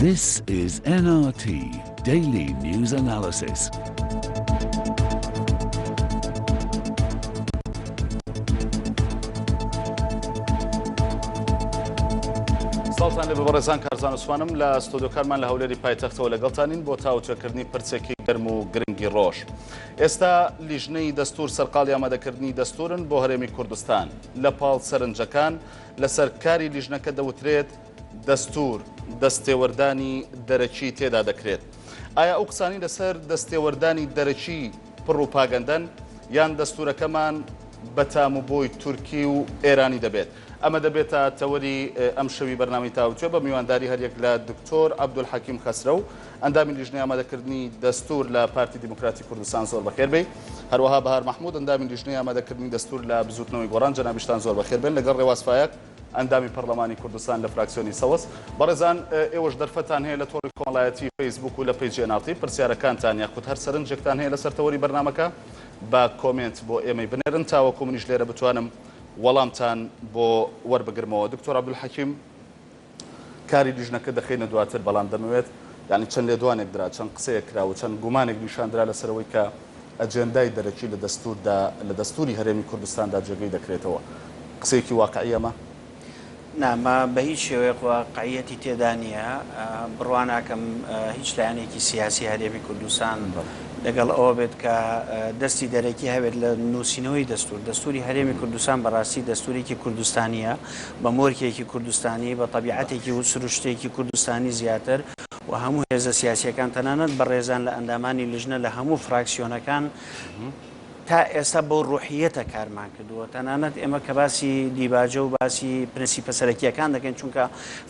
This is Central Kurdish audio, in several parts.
This is NRT Daily News Analysis. سڵتان لە بەڕێزان کارزانسوانم لە ستۆدۆکارمان لە هەولێری پایتەختەوە لەگەڵتانین بۆ تاوترەکردنی پرسێکی گەرم و گرنگی ڕۆژ. ئێستا لیژنەی دەستور سەرقاڵی ئامادەکردنی دەستورن بۆ هەرێمی کوردستان، لە پاڵ سەرنجەکان لەسەر کاری لیژنەکە دەوترێت دەستور دەستێوەردانی دەرەکی تێدا دەکرێت. ئایا ئەو قسانەی لەسەر دەستێوەردانی دەرەکی پڕوپاگەندەن یان دەستورەکەمان بە تام و بۆی تورکی و ئێرانی دەبێت؟ ئەمە دەبێتە تەوەری ئەمشەوی بەرنامەی تاوتوێ بە میوانداری هەریەک لە دکتۆر عەبدولحەکیم خەسرەو، ئەندامی لیژنەی ئامادەکردنی دەستوور لە پارتی دیموکراتی کوردستان زۆر بەخێر بێی. هەروەها بەهار مەحمود ئەندامی لیژنەی ئامادەکردنی دەستوور لە بزووتنەوەی گۆڕان جەنابیشتان زۆر بەخێر بێن لەگەڵ ڕێواز فایەق ئەندامی پەرلەمانی کوردستان لە فراکسیۆنی سەوز. بەڕێزان ئێوەش دەرفەتتان هەیە لە تۆڕی کۆمەڵایەتی فەیسبووک و لە پەیجی ئەناڵتی پرسیارەکانتان یاخود هەر سەرنجێکتان هەیە لەسەر تەوەری بەرنامەکە بە کۆمێنت بۆ ئێمەی بنێرن تاوەکو منیش لێرە بتوانم وەڵامتان بۆ وەربگرمەوە. دکتۆر عەبدولحەکیم. کاری لیژنەکە دەخەینە دواتر، بەڵام دەمەوێت یانی چەند لێدوانێک درا، چەند قسەیەک کرا و چەند گومانێک نیشان درا لەسەر ئەوەی کە ئەجێندای دەرەکی لە دەستووردا، لە دەستووری هەرێمی کوردستاندا جێگەی دەکرێتەوە. قسەیەکی واقعی ئەمە؟ نا، مە بە هیچ شێوەیەک واقعییەتی تێدا نییە. بڕوا ناکەم هیچ لایەنێکی سیاسی هەرێمی کوردستان لەگەڵ ئەوە بێت کە دەستی دەرەکی هەبێت لە نووسینەوەی دەستوور. دەستووری هەرێمی کوردستان بە ڕاستی دەستوورێکی کوردستانییە. بە مۆرکێکی کوردستانی، بە تەبیعەتێکی و سروشتێکی کوردستانی زیاتر و هەموو هێزە سیاسییەکان تەنانەت بەڕێزان لە ئەندامانی لیژنە لە هەموو فراکسیۆنەکان تا ئێستا بەو ڕوحییەتە کارمان کردووە تەنانەت ئێمە کە باسی دیباجە و باسی پرنسیپە سەرەکییەکان دەکەین چونکە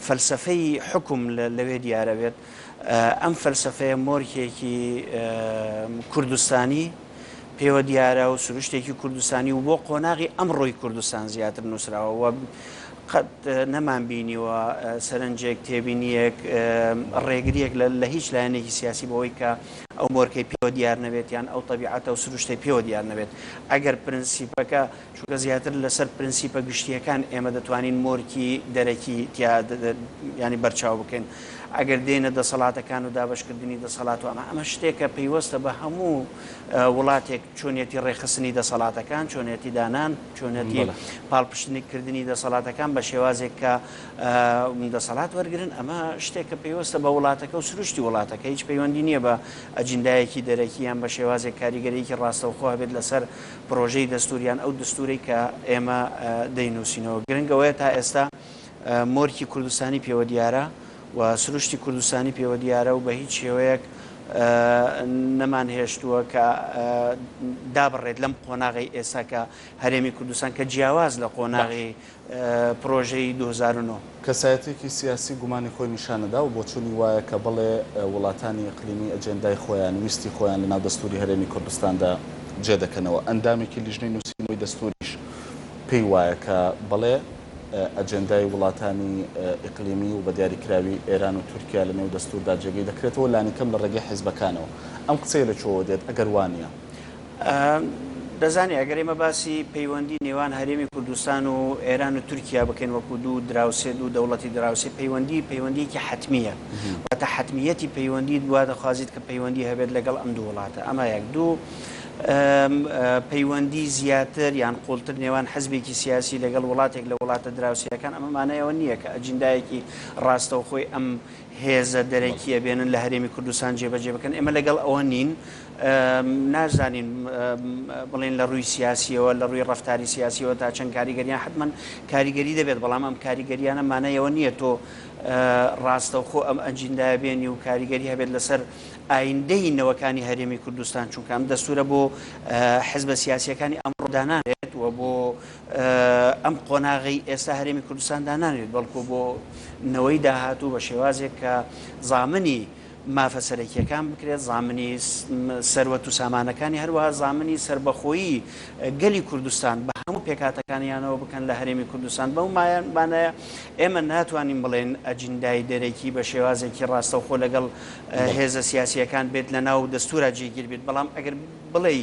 فەلسەفەی حکم لەوێ دیارەبێت ئەم فەلسەفەیە مۆرکێکی کوردستانی پێوە دیارە و سروشتێکی کوردستانی و بۆ قۆناغی ئەمڕۆی کوردستان زیاتر نووسراوە و قەت نەمان بینیوە سەرنجێک تێبینیەک ڕێگریەک لە هیچ لایەنێکی سیاسی بەوەی کە ئەو مۆرکەی پێوە دیار نەبێت یان ئەو طببیعاتە و سروشتی پێوە دیار نەبێت ئەگەر پرنسیپەکە چونکە زیاتر لەسەر پرنسیپە گشتییەکان ئێمە دەتوانین مۆرکی دەرەکی تیا یانی بەرچاو بکەین ئەگەر دێنە دەسەڵاتەکان و دابەشکردنی دەسەڵات و ئەمە ئەمە شتێکە پەیوەستە بە هەموو وڵاتێک چۆنیەتی ڕێکخستنی دەسەڵاتەکان چۆنیەتی دانان چۆنەتی پاڵپشتنی کردنی دەسەڵاتەکان بە شێوازێک کە دەسەڵات وەرگن ئەمە شتێکە پەیوەستە بە وڵاتەکە و سروشتی وڵاتەکە هیچ پەیوەندی نییە بە ئەجندایەکی دەرەکییان بە شێوازێک کاریگەرێکی ڕاستەوخۆ هەبێت لەسەر پرۆژەی دەستوور یان ئەو دەستوورەی کە ئێمە دەینووسینەوە گرنگ ئەوەیە تا ئێستا مۆرکی کوردستانی پێوە دیارە و سروشتی کوردستانی پێوە دیارە و بە هیچ شێوەیەک نەمان هێشتووە کە دابڕێت لەم قۆناغی ئێستا کە هەرێمی کوردستان کە جیاواز لە قۆناغی پرۆژەی دوو هەزار و نۆ. کەسایەتیەکی سیاسی گومانی خۆی نیشانەدا و بۆچوونی وایە کە بەڵێ وڵاتانی ئیقلیمی ئەجێندای خۆیان، ویستی خۆیان لەناو دەستووری هەرێمی کوردستاندا جێ دەکەنەوە. ئەندامێکی لیژنەی نووسینەوەی دەستووریش پێی وایە کە بەڵێ ئەجێندای وڵاتانی ئیقلیمی و بە دیاریکراوی ئێران و تورکیا لەنێو دەستووردا جێگەی دەکرێتەوە لانیکەم لە ڕێگەی حیزبەکانەوە. ئەم قسەیە لە کوێوە دێت ئەگەر وا نییە؟ دەزانی ئەگەر ئێمە باسی پەیوەندی نێوان هەرێمی کوردستان و ئێران و تورکیا بکەین وەکو دوو دراوسێ دوو دەوڵەتی دراوسێ پەیوەندی پەیوەندیکی حتممیە واتە حتممیەتی پەیوەندی دوا دەخوازیت کە پەیوەندی هەبێت لەگەڵ ئەم دوو وڵاتە ئەمە یەک دوو پەیوەندی زیاتر یان قوڵتر نێوان حزبێکی سیاسی لەگەڵ وڵاتێک لە وڵاتە دراوسەکان ئەمە مانایەوە نییە کە ئەجیندایەکی ڕاستەوخۆی ئەم هێزە دەرەکییە بێنن لە هەرێمی کوردستان جێبەجێ بکەن، ئێمە لەگەڵ ئەوە نین، ناشزانین بڵێین لە ڕووی سیاسییەوە، لە ڕووی ڕەفتاری سیاسییەوە تا چەند کاریگەریان حەتمەن کاریگەری دەبێت، بەڵام ئەم کاریگەرییانە مانای ئەوە نییە تۆ ڕاستەوخۆ ئەم ئەجیندایە بێنی و کاریگەری هەبێت لەسەر ئایندەی نەوەکانی هەرێمی کوردستان، چونکە ئەم دەستوورە بۆ حزبە سیاسییەکانی ئەمڕۆ دانانرێت و بۆ ئەم قۆناغی ئێستا هەرێمی کوردستان دانانێت بەڵکو بۆ نەوەی داهاتوو بە شێوازێک کە زامنی مافە سەرەکیەکان بکرێت زامنی سەروەت و سامانەکانی هەروەها زامنی سربەخۆیی گەلی کوردستان بە هەموو پێکاتەکانیانەوە بکەن لە هەرێمی کوردستان بەو مایانمانەیە ئێمە ناتوانین بڵێن ئەجندای دەرەکی بە شێوازێکی ڕاستەوخۆ لەگەڵ هێزە سیاسیەکان بێت لە ناو دەستورا جێگیر بێت بەڵام ئەگەر بڵێ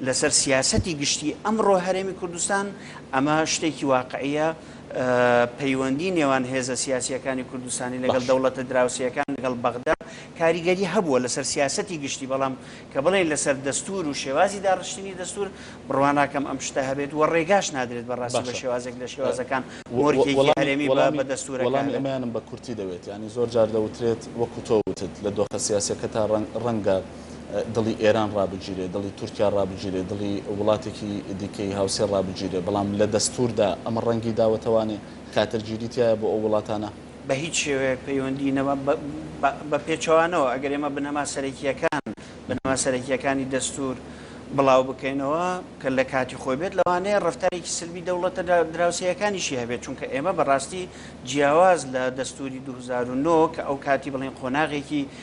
لەسەر سیاسەتی گشتی ئەمڕۆ هەرێمی کوردستان، ئەمە شتێکی واقعییە، پەیوەندی نێوان هێزە سیاسییەکانی کوردستانی لەگەڵ باشە. دەوڵەتە دراوسێیەکان، لەگەڵ بەغدا، کاریگەری هەبووە لەسەر سیاسەتی گشتی، بەڵام کە بڵێین لەسەر دەستوور و شێوازی داڕشتنی دەستوور، بڕوا ناکەم ئەم شتە هەبێت و ڕێگاش نادرێت بە ڕاستی بە باشە. شێوازێک لە شێوازەکان وە مۆرکێکی وەڵامی هەرێمی بە وەڵامی بە دەستوورەکە وەڵامی هەبێت. ئەمەیانم بە کورتی دەوێت، یانی زۆر جار دەوترێت، وەکوو تۆ وتت، لە دۆخە سیاسییەکەتا ڕەنگ ڕەنگە، دڵی ئێران ڕابگیرێ، دڵی تورکیا ڕابگیرێ، دڵی وڵاتێکی دیکەی هاوسێ ڕابگیرێ، بەڵام لە دەستووردا ئەمە ڕەنگی داوەتەوانێ، خاترجیری تیایە بۆ ئەو وڵاتانە. بە هیچ شێوەیەک پەیوەندی نە بە پێچەوانەوە، ئەگەر ئێمە بنەما سەرەکییەکان، بنەما سەرەکییەکانی دەستوور بڵاو بکەینەوە، کە لە کاتی خۆی بێت، لەوانەیە ڕەفتارێکی سلبی دەوڵەتە دراوسێیەکانیشی هەبێت، چونکە ئێمە بە ڕاستی جیاواز لە دەستووری دوو هەزار و نۆ کە ئەو کاتی بڵێین قۆناغێکی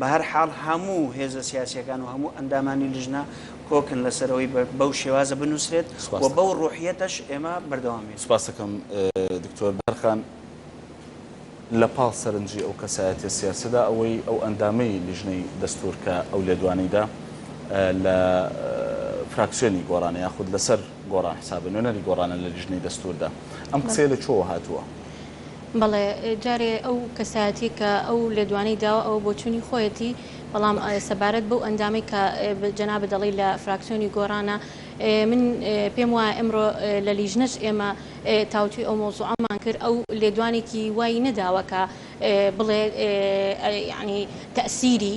بەهەر حاڵ هەموو هێزە سیاسیەکان و هەموو ئەندامانی لیژنە کۆکن لەسەر ئەوەی بەو شێوازە بنوسرێت و بەو روحیەتەش ئێمە بەردەوامین. سپاست دەکەم دکتۆر بەرخان، لە پاڵ سەرنجی ئەو کەسایەتیە سیاسیەدا ئەوەی ئەو ئەندامەی لیژنەی دەستور کە ئەو لێدوانەی دا لە فراکسیۆنی گۆڕانە یاخود لەسەر گۆڕان حسابە نوێنەری گۆڕانە لە لیژنەی دەستوردا ئەم قسەیە لە کوێوە هاتووە؟ بەڵێ جارێ ئەو کەسایەتیە کە ئەو لێدوانەی داوە ئەوە بۆچونی خۆیەتی بەڵام سەبارەت بەو ئەندامەی کە جەنابت دەڵی لە فراکسیۆنی گۆڕانە من پێم وایە ئەمڕۆ لە لیژنەش ئێمە تاوتوی ئەو مەوزوعەمان کرد ئەو لێدوانێکی وای نەداوە کە بڵێ یعنی تەسیری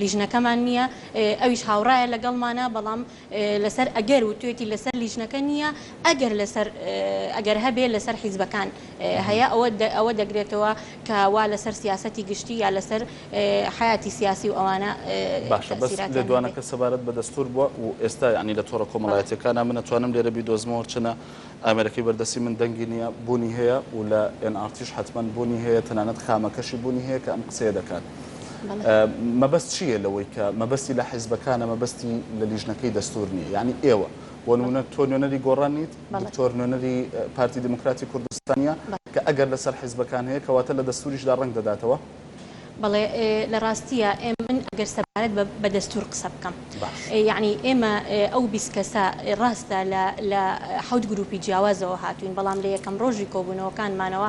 لیژنەکەمان نییە ئەویش هاوڕایە لەگەڵمانا بەڵام لەسەر ئەگەر وتوێتی لەسەر لیژنەکە نییە ئەگەر لەسەر ئەگەر هەبێ لەسەر حیزبەکان هەیە ئەوە ئەوە دەگرێتەوە کە وا لەسەر سیاسەتی گشتی یا لەسەر حەیاتی سیاسی و ئەوانە باشە بەس لێدوانەکە سەبارەت بە دەستور بوە و ئێستا یەعنی لە تۆڕە کۆمەڵایەتیەکانا من ئەتوانم لێرە بیدۆزمەوە هەرچەنە ئامێرەکەی بەردەستی من دەنگی نییە بوونی هەیە و لە ئێن ئاڕ تیش حەتمەن بوونی هەیە تەنانەت خامەکەشی بوونی هەیە کە ئەم قسەیە دەکات مەبەست چییە لەوەی کە مەبەستی لە حیزبەکانە مەبەستی لە لیژنەکەی دەستوور نییە یعنی ئێوە بۆ نموونە تۆ نوێنەری گۆڕان نیت دکتۆر نوێنەری پارتی دیموکراتی کوردستانە کە ئەگەر لەسەر حیزبەکان هەیە کەواتە لە دەستووریشدا ڕەنگ دەداتەوە بەڵێ لە ڕاستیە ئێم من ئەگەر سەبارەت بە بە دەستور قسە بکەم یعنی ئێمە ئەو بیست کەسە ڕاستە لە حوت گروپی جیاوازەوە هاتوین بەڵام لە یەکەم ڕۆژی کۆبوونەوەکانمانەوە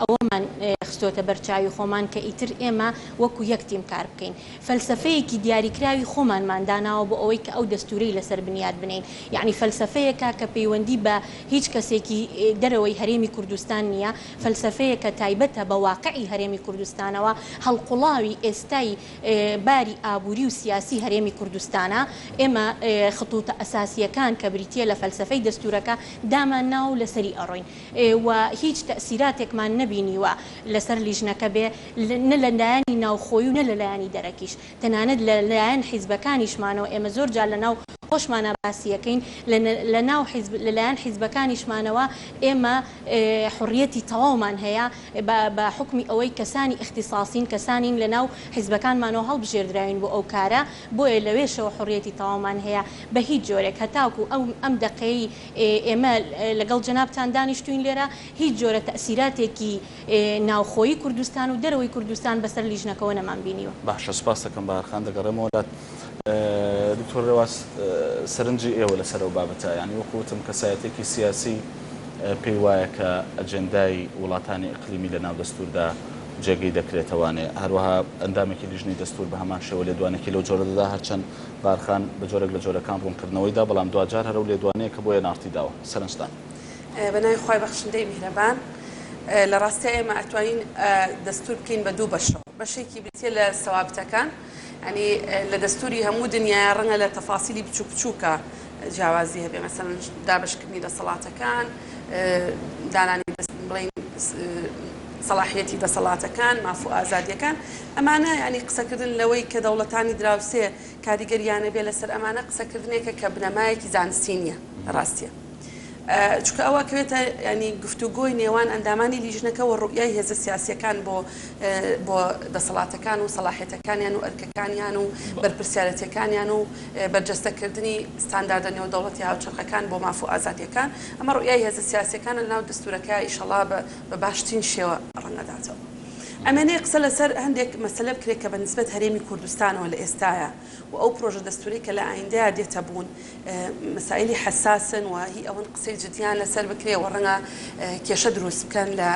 ئەوەمان خستۆتە بەرچاوی خۆمان کە ئیتر ئێمە وەکو یەک تیم کار بکەین فەلسفەیەکی دیاریکراوی خۆمانمان داناوە بۆ ئەوەی کە ئەو دەستورەی لەسەر بنیاد بنین یعنی فەلسفەیەکە کە پەیوەندی بە هیچ کەسێکی دەرەوەی هەرێمی کوردستان نییە فەلسەفەیەکە تایبەتە بە واقعی هەرێمی کوردستانەوە، هەڵقوڵاوی ئێستای باری ئابووری و سیاسی هەرێمی کوردستانە، ئێمە خطوطە ئەساسییەکان کە بریتییە لە فەلسەفەی دەستوورەکە دامانناوە و لەسەری ئەڕۆین و هیچ تەئسیراتێکمان نەبینیوە لەسەر لیژنەکە بێ نە لەلایەنی ناوخۆیی و نە لەلایەنی دەرەکیش، تەنانەت لە لایەن حیزبەکانیشمانەوە ئێمە زۆر جار لە ناو خۆشمانا باسی ئەکەین لە لە ناو حیزب لە لایەن حیزبەکانیشمانەوە ئێمە حوڕیەتی تەواومان هەیە بە بە حوکمی ئەوەی کەسانی ئیختیساسین کەسانین لە ناو حیزبەکانمانەوە هەڵبژێردراوین بۆ ئەو کارە بۆیە لەوێشەوە حوڕیەتی تەواومان هەیە بە هیچ جۆرێک هەتاکوو ئەو ئەم دەقەی ئێمە لەگەڵ جەنابتان دانیشتووین لێرە هیچ جۆرە تەئسیراتێکی ناوخۆیی کوردستان و دەرەوەی کوردستان بەسەر لیژنەکەوە نەمان بینیوە. باشە سوپاستەکەم باقخان دەگەڕێمەوە لات دکتۆر رێواس سەرنجی ئێوە لەسەر ئەو بابەتە یانی وەکو وتم کەسایەتێکی سیاسی پێی وایە کە ئەجێندای وڵاتانی ئیقلیمی لەناو دەستوردا جێگەی دەکرێتەوانێ هەروەها ئەندامێکی لیژنەی دەستور بەهەمان شێوە لێدوانێکی لەو جۆرە دەدا هەرچەند بارخان بەجۆرێک لەجۆرەکان ڕونکردنەوەی دا بەڵام دواجار هەرەو لێدوانەیە کە بۆ ئێن ئاڕتی داوە سەرنجتان بە ناوی خوای بەخشندەی میهرەبان. لە ڕاستیا ئێمە ئەتوانین دەستوور بکەین بە دوو بەشەوە. بەشێکی بریتییە لە سەوابتەکان. یانی لە دەستووری هەموو دنیایە ڕەنگە لە تەفاسیلی بچووک بچووکە جیاوازی هەبێ. مەسەلەن دابەشکردنی دەسەڵاتەکان، دانانی دەست بڵێین سەڵاحییەتی دەسەڵاتەکان، ماف و ئازادییەکان. ئەمانە یانی قسەکردن لەوەی کە دەوڵەتانی دراوسێ کاریگەرییان هەبێ لەسەر ئەمانە قسەکردنێکە کە بنەمایەکی زانستی نییە لە ڕاستیا. چونکە ئەوە ئەکەوێتە یانی گفتوگۆی نێوان ئەندامانی لیژنەکە و ڕوئیای هێزە سیاسییەکان بۆ بۆ دەسەڵاتەکان و سەڵاحیەتەکانیان و ئەرکەکانیان و بەرپرسیارەتیەکانیان و بەرجەستەکردنی ستانداردە نێودەوڵەتی هاوچەرخەکان بۆ ماف و ئازادیەکان ئەمە ڕوئیای هێزە سیاسیەکانە لەناو دەستورەکە ئیشەڵا بە بە باشترین شێوە ڕەنگەداتەوە. ئەمەێ قسە لەسەر هەندێک مەسەلە بکرێت کە بە نسبەت هەرێمی کوردستانەوە لە ئێستایا. و ئەو پرۆژە دەستورەی کە لە ئایندەیا دێتە بوون مەسایلی حەساسن و هی ئەوەن قسەی جدیان لەسەر بکرێ و ڕەنگە کێشە دروست بکەن لە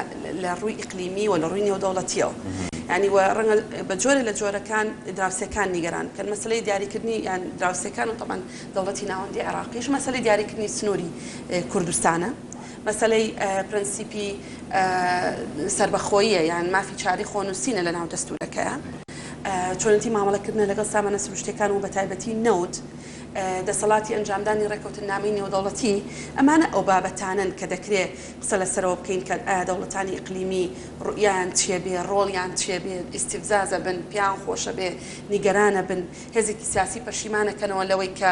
لە ڕووی ئیقلیمی و لە ڕووی نێودەوڵەتیەوە یانی و ڕەنگە بە جۆرێ لە جۆرەکان دراوسێکان نیگەران بکەن مەسەلەی دیاریکردنی یان دراوسێکان و تەبعەن دەوڵەتی ناوەندی عێڕاقیش مەسەلەی دیاریکردنی سنوری کوردستانە مەسەلەی پرەنسیپی سەربەخۆییە یان مافی چارەی خۆنووسینە لە ناو دەستوورەکەیە. چۆنێتی مامەڵەکردنە لەگەڵ سامانە سروشتییەکان و بەتایبەتی نەوت، دەسەڵاتی ئەنجامدانی ڕێککەوتننامەی نێودەوڵەتی، ئەمانە ئەو بابەتانەن کە دەکرێ قسە لەسەرەوە بکەین کە ئایا دەوڵەتانی ئیقلیمی ڕوئیایان چییە بێ، ڕۆڵیان چییە بێ، ئیستیفزازە بن، پێیان خۆشە بێ، نیگەرانە بن، هێزێکی سیاسی پەشیمانەکەنەوە لەوەی کە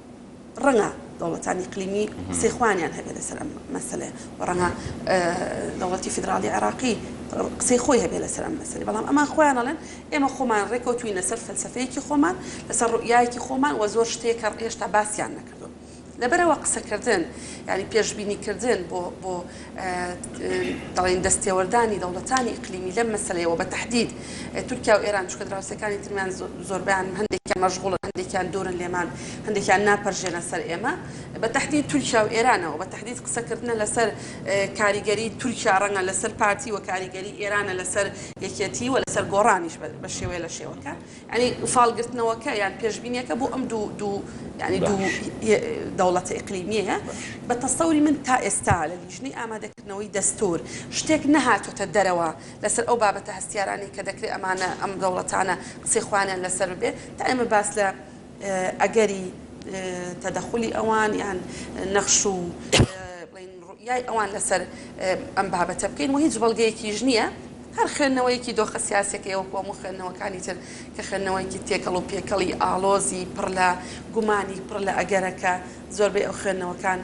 ڕەنگە دەوڵەتان ئیقلیمی قسەی خۆیانیان هەبێت لەسەر ئەم مەسەلەیە و ڕەنگە دەوڵەتی فیدراڵی عێراقی قسەی خۆی هەبێت لەسەر ئەم مەسەلەی بەڵام ئەمان خۆیان ئەڵێن ئێمە خۆمان ڕێکەوتوین لەسەر فەلسەفەیەکی خۆمان لەسەر ڕوئیایەکی خۆمان وە زۆر شتێک کە هێشتا باسیان نەکردووە لەبەرئەوە قسەکردن یانی پێشبینیکردن بۆ دەڵێن دەستێوەردانی دەوڵەتانی ئیقلیمی لەم مەسەلەیە و بە تەحدید تورکیا و ئێران چونکە دراوسێکانی ترمیان زۆربەیان هەندێکیان مەشغوڵن هەندێکیان دوورن لێمان هەندێکیان ناپەرژێنە سەر ئێمە بە تەحدید تورکیا و ئێرانەوە بە تەحدید قسەکردنە لەسەر کاریگەری تورکیا ڕەنگە لەسەر پارتی و کاریگەری ئێرانە لەسەر یەکێتی و لەسەر گۆڕانیش بە شێوەیە لە شێوەکان یانی فاڵ گرتنەوەکە یان پێشبینیەکە بۆ ئەم دوو دوو یانی دوو دەوڵەتە ئیقلیمیەیە بە تەسەوری من تا ئێستا لە لیژنەی ئامادەکردنەوەی دەستور شتێک نەهاتۆتە دەرەوە لەسەر ئەو بابەتە هەستیارانەی کە دەکرێ ئەمانە ئەم دەوڵەتانە قسەی خۆیانیان لەسەر ببێ تا ئێمە باس لە ئەگەری تەدەخولی ئەوان یان نەخش و بڵێین ڕوئیای ئەوان لەسەر ئەم بابەتە بکەین و هیچ بەڵگەیەکیش نییە هەر خوێندنەوەیەکی دۆخە سیاسەکەی وەکو هەموو خوێندنەوەکانی تر کە خوێندنەوەیەکی تێکەڵ و پێکەڵی ئاڵۆزی پڕ لە گومانی پڕ لە ئەگەرەکە زۆربەی ئەو خوێندنەوەکان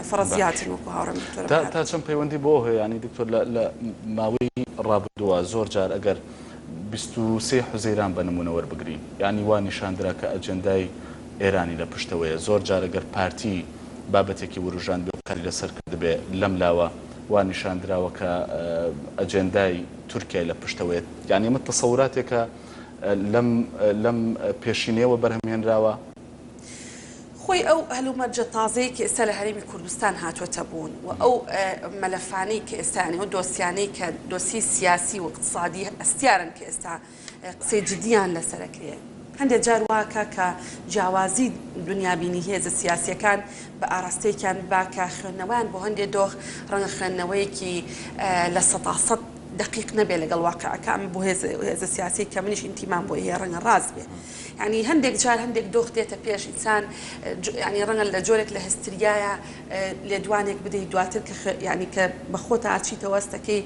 فەڕەزیاتن وەکو هاوڕێم دکتۆر تا چەند پەیوەندی بۆ هەیە ینی دکتۆر لە ماوەی ڕابردووە زۆر جار ئەگەر بیست و سێ حوزەیران بە نموونە وەربگرین، یانی وا نیشاندرا کە ئەجێندای ئێرانی لە پشتەوەیە. زۆر جار گەر پارتی بابەتێکی وروژاندبێ و قسەی لەسەر کردبێ، لەم لاوە وا نیشان دراوە کە ئەجێندای تورکیای لە پشتەوەیە. یانی ئەمە تەسەوراتێکە لەم لەم پێشینەیەوە بەرهەم هێنراوە. خۆی ئەو هەلومەرجە تازەیەی کە ئێستا لە هەرێمی کوردستان هاتووەتە بوون و ئەو مەلەفانەی کە ئێستا یانی ئەو دۆسیانەی کە دۆسیەی سیاسی و ئیقتسادی هەستیارن کە ئێستا قسەی جدییان لەسەر ئەکرێ، هەندێ جار وا کا کە جیاوازی دنیابینی هێزە سیاسییەکان بە ئاراستەیەکیان با کە خوێندنەوەیان بۆ هەندێ دۆخ ڕەنگە خوێندنەوەیەکی لە سەتا سەد دەقیق نەبێ لەگەڵ واقیعەکە، ئەمە بۆ هێزە سیاسییەک کە منیش ئینتیمام بۆی هەیە ڕەنگە ڕاست بێ. یانی هەندێک جار هەندێک دۆخ دێتە پێش ئینسان یانی ڕەنگە لە جۆرێک لە هستریایە لێدوانێک بدەی دواتر کە یانی کە بە خۆتا ئەچیتەوە هەستەکەی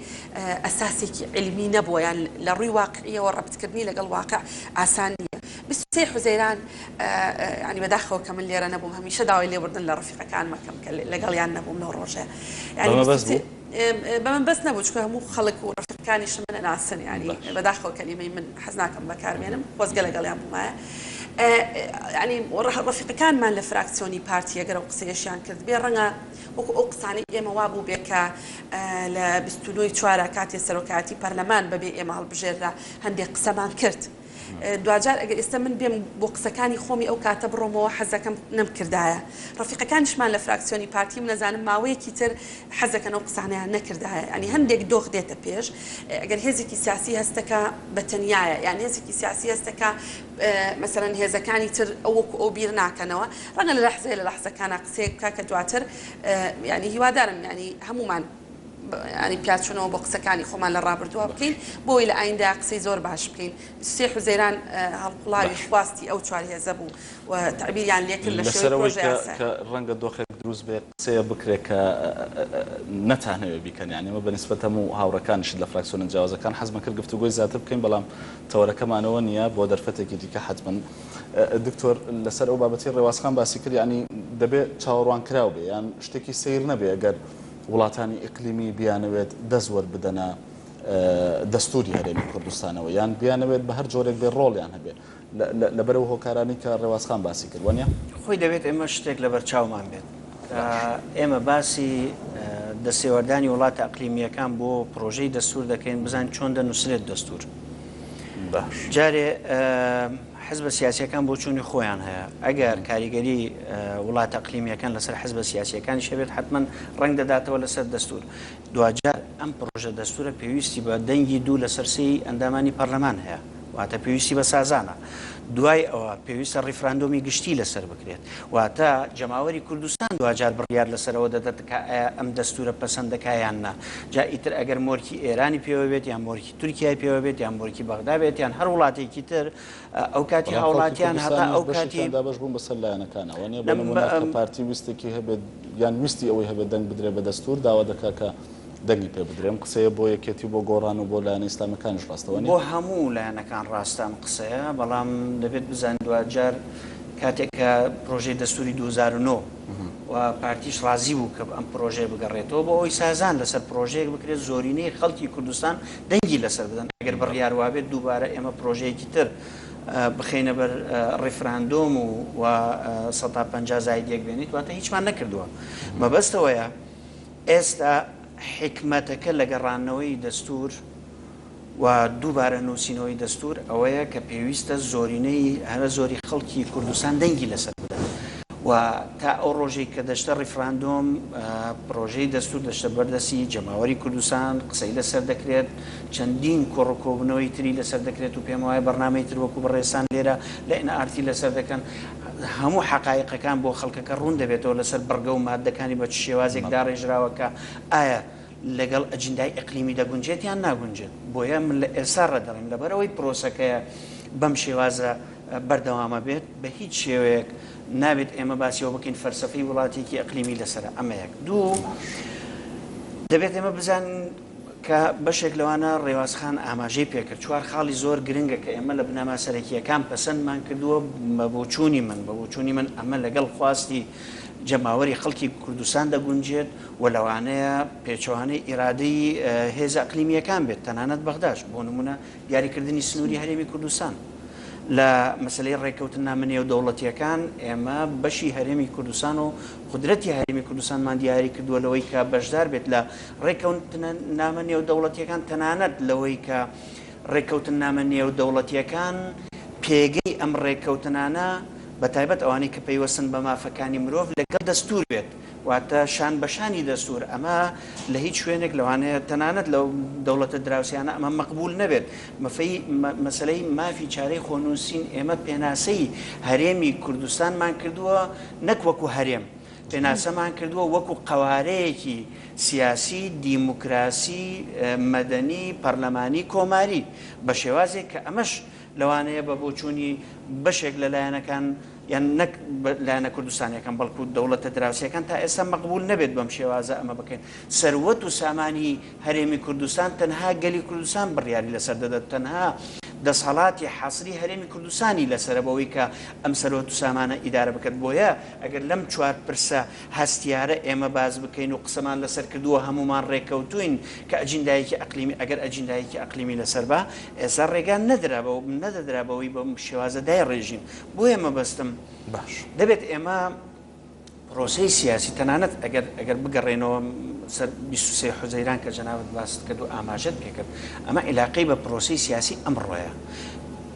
ئەساسێکی علمی نەبووە یان لە ڕووی واقعیەوە ڕەبتکردنی لەگەڵ واقع ئاسان نییە بیست و سێی حوزەیران یانی بەداخەوە کە من لێرە نەبووم هەمیشە داوای لێبوردن لە ڕەفیقەکانم ئەکەم کە لەگەڵیان نەبووم لەو ڕۆژەیە یانی بیست و سێ. بەمن بەس نەبوو چکە هەموو خەڵک و ڕەفیقەکانیشم من ئەناسن یانی بەداخەوە کەلیمەی من حەز ناکەم بەکارمێنم خۆزگە لەگەڵیان بوومایە ینی ڕەفیقەکانمان لە فراکسیۆنی پارتیە گەرە و قسەیەشیان کرد بێ ڕەنگە وەکو ئەو قسانی ئێمە وا بوو بێکە لە بیستنەوەی چوارە کاتی سەرۆکایەتی پەرلەمان بەبێ ئێمە هەڵبژێررا هەندێک قسەمان کرد دواجار ئەگەر ئێستا من بێم بۆ قسەکانی خۆمی ئەو کاتە بڕۆمەوە حەزەکەم نەمکردایە ڕەفیقەکانیشمان لە فراکسیۆنی پارتیم نەزانم ماوەیەکی تر حەزەکەن ئەو قسانەیان نەکردایە یانی هەندێک دۆخ دێتە پێش ئەگەر هێزێکی سیاسی هەستەکە بە تەنیایە یان هێزێکی سیاسی هەستەکە مەسەرەن هێزەکانی تر ئەوەکو ئەو بیر ناکەنەوە ڕەنگە لە لەحزەیە لە لەحزەکانە قسەیەک بکە کە دواتر ینی هیوادارم ینی هەمومان پیاچونەوە بۆ قسەکانی خۆمان لە ڕابردووە بکەین بۆی لە ئایندە قسەی زۆر باش بکەین سێ حوزەیران هەڵقوڵاوی خواستی ئەو چوار هێزە بوو و تەعبیریان لێکرد لە شێوەی پرۆژە یاسا. کە ڕەنگە دۆخێک دروست بێ قسەیە بکرێ کە نەتانەوێ بیکەن یانی ئەمە بە نیسبەت هەموو هاوڕێکانیشت لە فراکسیۆنە جیاوازەکان حەزمان کرد گفتوگۆی زیاتر بکەین بەڵام تەوەرەکەمان ئەوە نییە بۆ دەرفەتێکی دیکە حەتمەن دکتۆر لەسەر ئەو بابەتەی ڕێواز خان باسی کرد یانی دەبێ چاوەڕوانکراو بێ یان شتێکی سەیر نەبێ گەر وڵاتانی ئیقلیمی بیانەوێت دەست وەربدەنە دەستوری هەرێمی کوردستانەوە یان بیانەوێت بە هەر جۆرێک بێ ڕۆڵیان هەبێ لەبەرەوە هۆکارانی کە ڕێوازخان باسی کردوانە خۆی دەبێت ئێمە شتێک لە بەرچاومان بێت ئێمە باسی دەسێوەردانی وڵاتە ئەقلیمیەکان بۆ پرۆژەی دەستور دەکەین بزان چۆن دەنووسرێت دەستور جارێ حزبە سیاسیەکان بۆچوونی خۆیان هەیە، ئەگەر کاریگەری وڵاتە اقلیمیەکان لەسەر حزبە سیاسیەکانیش هەبێت حەتمەن ڕەنگ دەداتەوە لەسەر دەستور، دواجار ئەم پڕۆژە دەستورە پێویستی بە دەنگی دوو لەسەر سێی ئەندامانی پەرلەمان هەیە، واتە پێویستی بە سازانە، دوای ئەوە پێویستە ڕیفراندۆمی گشتی لەسەر بکرێت، واتە جەماوەری کوردستان دواجار بڕیار لەسەر ئەوە دەدات کە ئایا ئەم دەستورە پەسەند دەکات یان نا، جا ئیتر ئەگەر مۆرکی ئێرانی پێوە بێت یان مۆرکی. تورکیای پێوە بێت یان بۆرکی بەغدا بێت یان هەر وڵاتێکی تر ئەوکاتی هاوڵاتیان هەتا ئەو کاتی دابش بوون بەسەر لایەنەکانە وەنیە بە نمونە کە پارتی ویستێکی هەبێت یان ویستی ئەوەی هەبێت دەنگ بدرێت بە دەستور داوا دەکات کە دەنگی پێ بدرێم قسەیە بۆ یەکێتی بۆ گۆڕان و بۆ لایەنە ئیسلامەکانش ڕاستەوە نیە بۆ هەموو لایەنەکان ڕاستە ئەم قسەیە بەڵام دەبێت بزان دواجار کاتێک کە پرۆژەی دەستوری دوو هەزار و نۆ و پارتیش ڕازی بوو کە ئەم پرۆژەیە بگەڕێتەوە بۆ ئەوەی سازان لەسەر پرۆژەیەک بکرێت زۆرینەی خەڵکی کوردستان دەنگی لەسەر بدەن ئەگەر بڕیار وابێت دووبارە ئێمە پرۆژەیەکی تر بخەینە بەر ڕیفراندۆم و و سەد تا پەنجا زاید یەک بێنیت واتە هیچمان نەکردووە مەبەستەوەیە ئێستا حیکمەتەکە لە گەڕانەوەی دەستوور و دووبارە نووسینەوەی دەستوور ئەوەیە کە پێویستە زۆرینەی هەرە زۆری خەڵکی کوردستان دەنگی لەسەر بدەن و تا ئەو ڕۆژەی کە دەچتە ڕیفراندۆم پرۆژەی دەستوور دەچتە بەر دەستی جەماوەری کوردستان قسەی لەسەر دەکرێت چەندین کۆڕ و کۆبوونەوەی تری لەسەر دەکرێت و پێم وایە بەرنامەی تر وەکوو بەڕێزتان لێرە لە ئێن ئار تی لەسەر دەکەن هەموو حەقایقەکان بۆ خەڵکەکە ڕوون دەبێتەوە لەسەر بڕگە و ماددەکانی بە چ شێوازێک داڕێژراوە کە ئایا لەگەڵ ئەجندای ئیقلیمی دەگونجێت یان ناگونجێت، بۆیە من لە ئێستا ڕادەڵێم لەبەرئەوەی پرۆسەکەیە بەم شێوازە بەردەوامە بێت بە هیچ شێوەیەک نابێت ئێمە باسی ئەوە بکەین فەلسەفەی وڵاتێکی ئیقلیمی لەسەرە ئەمە یەک دوو دەبێت ئێمە بزانین کە بەشێک لەوانە ڕێواز خان ئاماژەی پێکرد چوار خاڵی زۆر گرنگە کە ئێمە لە بنەما سەرەکییەکان پەسەندمان کردووە بە بۆچوونی من بە بۆچوونی من ئەمە لەگەڵ خواستی جەماوەری خەڵکی کوردستان دەگونجێت و لەوانەیە پێچەوانەی ئیرادەی هێزە ئەقلیمییەکان بێت، تەنانەت بەغداش، بۆ نموونە دیاریکردنی سنووری هەرێمی کوردستان. لە مەسەلەی ڕێککەوتننامە نێودەوڵەتییەکان، ئێمە بەشی هەرێمی کوردستان و قودرەتی هەرێمی کوردستانمان دیاری کردووە لەوەی کە بەشدار بێت لە ڕێککەونتننامە نێودەوڵەتییەکان، تەنانەت لەوەی کە ڕێککەوتننامە نێودەوڵەتییەکان پێگەی ئەم ڕێککەوتنانە، بە تایبەت ئەوانەی کە پەیوەستن بە مافەکانی مرۆڤ، لەگەڵ دەستوور بێت، واتە شان بە شانی دەستوور، ئەمە لە هیچ شوێنێک لەوانەیە تەنانەت لەو دەوڵەتە دراوسێیانە ئەمە مەقبوول نەبێت. مەفەی مەسەلەی مافی چارەی خۆنووسین ئێمە پێناسەی هەرێمی کوردستانمان کردووە نەک وەکوو هەرێم، پێناسەمان کردووە وەکو قەوارەیەکی سیاسی، دیموکراسی، مەدەنی، پەرلەمانی، کۆماری، بە شێوازێک کە ئەمەش لەوانەیە بە بۆچوونی بەشێک لە لایەنەکان یان نەک لایەنە کوردستانیەکان بەڵکو دەوڵەتە دراوسێکان تا ئێستا مەقبوول نەبێت بەم شێوازە ئەمە بکەین. سەروەت و سامانی هەرێمی کوردستان تەنها گەلی کوردستان بڕیاری لەسەر دەدات، تەنها دەسهەڵاتی حەسری هەرێمی کوردستانی لەسەرە بەوەی کە ئەم سەروەت و سامانە ئیدارە بکات بۆیە، ئەگەر لەم چوار پرسە هەستیارە ئێمە باس بکەین و قسەمان لەسەر کردووە هەموومان ڕێککەوتووین کە ئەجیندایەکی ئەقلیمی ئەگەر ئەجیندایەکی ئەقلیمی لەسەر با ئێستا ڕێگا نەدرا بەو نەدەدرا بەوەی بەم شێوازە دایڕێژین بۆیە مەبەستم باش. دەبێت ئێمە پرۆسەی سیاسی تەنانەت ئەگەر ئەگەر بگەڕێینەوە سەر بیست و سێ حوزەیران کە جەنابت باست کرد و ئاماژەت پێ کرد ئەمە ئیلاقەی بە پرۆسەی سیاسی ئەمڕۆیە.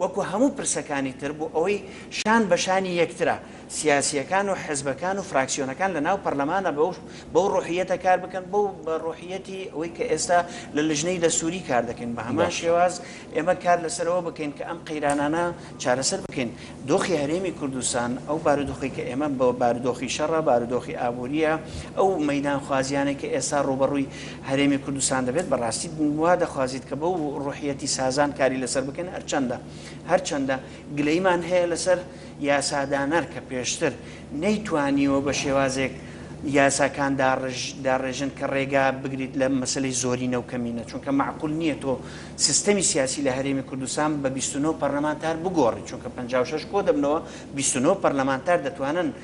وەکو هەموو پرسەکانی تر بۆ ئەوەی شان بە شانی یەکترە، سیاسییەکان و حزبەکان و فراکسیۆنەکان لە ناو پەرلەمانا بەو بەو ڕۆحییەتە کار بکەن، بەو بە ڕۆحییەتی ئەوەی کە ئێستا لە لجنەی دەستووری کار دەکەین، بە هەمان باشە. شێواز ئێمە کار لە سەر ئەوە بکەین کە ئەم قەیرانانە چارەسەر بکەین. دۆخی هەرێمی کوردستان، ئەو بارودۆخەی کە ئێمە بە بارودۆخی شەڕە، بارودۆخی ئابوورییە، ئەو مەیدانخوازییانەی کە ئێستا ڕووبەڕووی هەرێمی کوردستان دەبێت بەڕاستی وا دەخوازیت کە بەو ڕوحیەتی سازان کاری لەسەر بکەین هەرچەندە هەرچەندە گلەیمان هەیە لەسەر یاسادانەر کە پێشتر نەیتوانیوە بە شێوازێک یاساکان داڕژ داڕێژن کە ڕێگا بگریت لە مەسەلەی زۆرینە و کەمینە چونکە مەعقول نییە تۆ سیستەمی سیاسی لە هەرێمی کوردستان بە بیست و نۆ پەرلەمانتار بگۆڕی چونکە پەنجا و شەش کۆ دەبنەوە بیست و نۆ پەرلەمانتار دەتوانن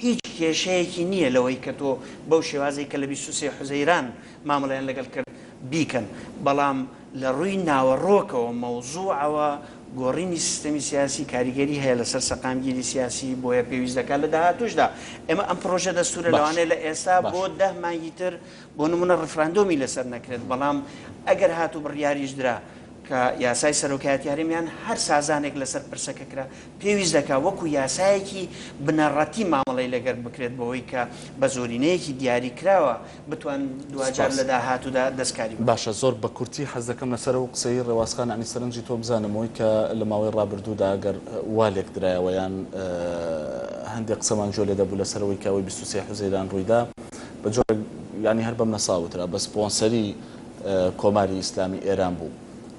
هیچ کێشەیەکی نییە لەوەی کە تۆ بەو شێوازەی کە لە بیست و سێ حوزەیران مامەڵەیان لەگەڵ کرد بیکەن، بەڵام لە ڕووی ناوەڕۆکەوە، مەوزوعەوە، گۆڕینی سیستەمی سیاسی کاریگەری هەیە لەسەر سەقامگیری سیاسی، بۆیە پێویست دەکات لە داهاتووشدا ئێمە ئەم پڕۆژە دەستوورە لەوانەیە لە ئێستا بۆ دە مانگی تر بۆ نموونە ڕیفراندۆمی لەسەر نەکرێت، بەڵام ئەگەر هات و بڕیاریش درا کە یاسای سەرۆکایەتی هەرێم یان هەر سازانێک لەسەر پرسەکە کرا، پێویست دەکات وەکو یاسایەکی بنەڕەتی مامەڵەی لەگەر بکرێت بەوەی کە بە زۆرینەیەکی دیاری کراوە بتوان دواجار سپاس. لە داهاتوودا دەستکاری بکەن. باشە زۆر بە کورتی حەز دەکەم لەسەر ئەو قسەی ڕێواز خان یانی سەرنجی تۆ بزانم ئەوەی کە لە ماوەی ڕابردوودا گەر وا لێک درایەوە یان هەندێ قسەمان گوێ لێ دەبوو لەسەر ئەوەی کە ئەوەی بیست و سێ حوزەیران ڕووی دا بە جۆرێک یانی هەر بە منەسا وترا بە سپۆنسەری کۆماری ئیسلامی ئێران بوو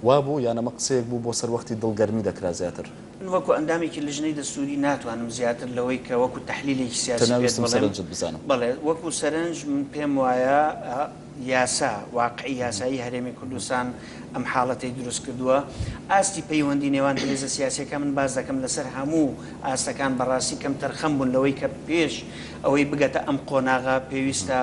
وا بوو یان ئەمە قسەیەک بوو بۆ سەر وەختی دڵگەرمی دەکرا زیاتر؟ من وەکو ئەندامێکی لجنەی دەستوری ناتوانم زیاتر لەوەی کە وەکو تەحلیلێکی سیاسی پێت بڵێم، تەنیا ویستم سەرنجت بزانم. بەڵێ وەکو سەرنج من پێم وایە یاسا، واقعی یاسایی هەرێمی کوردستان ئەم حاڵەتەی دروست کردووە. ئاستی پەیوەندی نێوان هێزە سیاسیەکان من باس دەکەم لەسەر هەموو ئاستەکان بەڕاستی کەمتەرخەم بوون لەوەی کە پێش ئەوەی بگەتە ئەم قۆناغە پێویستە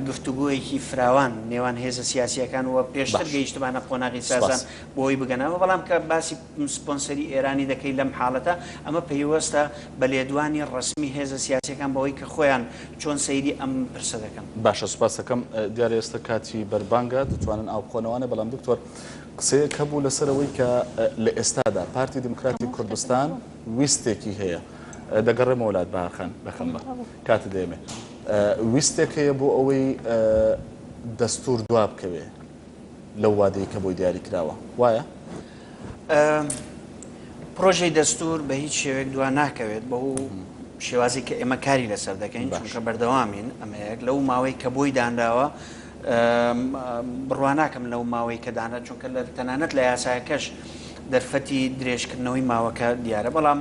گفتوگۆیەکی فراوان نێوان هێزە سیاسیەکان و پێشتر باش. گەیشتبانە قۆناغی سازان. سوپاس. بۆی بگەنەوە، بەڵام کە باسی سپۆنسەری ئێرانی دەکەی لەم حاڵەتە ئەمە پەیوەستە بە لێدوانی ڕەسمی هێزە سیاسیەکان بەوەی کە خۆیان چۆن سەیری ئەم پرسە دەکەن. باشە سوپاست دەکەم، دیارە ئێستا کاتی بەربانگە دەتوانن ئاو بخۆنەوە ئەنێ، بەڵام دکتۆر قسەیەک هەبوو لەسەر ئەوەی کە لە ئێستادا پارتی دیموکراتی کوردستان ویستێکی هەیە، دەگەڕێمەوە لات بەهار خان دەکەم بە کاتت دەیەمێ، ویستێک هەیە بۆ ئەوەی دەستور دوا بکەوێ، لەو وادەی کە بۆی دیاری کراوە وایە؟ پرۆژەی دەستور بە هیچ شێوێک دوا ناکەوێت بە و شێوازی کە ئێمە کاری لەسەر دەکەین چونکە بەردەوامین ئەمەیەک لەو ماوەی کە بۆی دانراوە بڕواناکەم لەو ماوەی کە دانا چونکە لە تەنانەت لە یاساکەش دەرفەتی درێژکردنەوەی ماوەکە دیارە بەڵام